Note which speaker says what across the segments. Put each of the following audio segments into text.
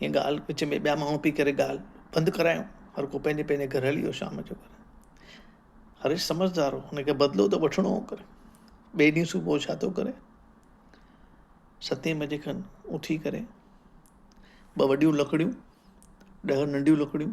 Speaker 1: ھيء ڳالھه وچ ۾ ٻيا ماڻھو پي ڪري ڳالھه بند ڪرايون. ھر ڪو پنھنجي پنھنجي گھر ھلي ويو شام جو گھر. ھريش سمجھدار ھو ھن کي بدلو ته وٺڻو ھو پر ٻئي ڏينھن صبح ڇا ٿو ڪري ستين بجي کن اٿي ڪري ٻه وڏيون لڪڙيون ڏھه ننڍيون لڪڙيون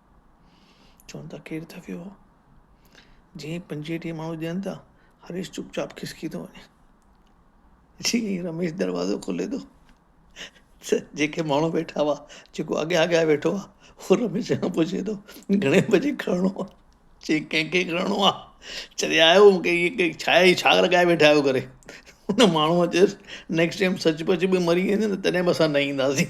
Speaker 1: چون ٿا ڪير ٿڪيو آ؟ جيئن پنجيٽيهه ماڻهو ڄڻن ٿا، هريش چپ چاپ کسڪي ٿو وڃي. جيئن ئي رميش دروازو کولي ٿو ته جيڪي ماڻهو ويٺا هئا، جيڪو اڳيان اڳيان ويٺو آ، هو رميش کان پڇي ٿو، گهڻي بجي کڙڻو آ؟ چيئن ڪنهن کي کڙڻو آ؟ چريا آهيو مون کي ائين ڪئي ڇا هي ڇا لڳائي ويٺا آهيو ڪري؟ ان ماڻهوء چيس، نيڪسٽ ٽائيم سچ پچ به مري ويندين ته تڏهن به اسان نه اينداسين.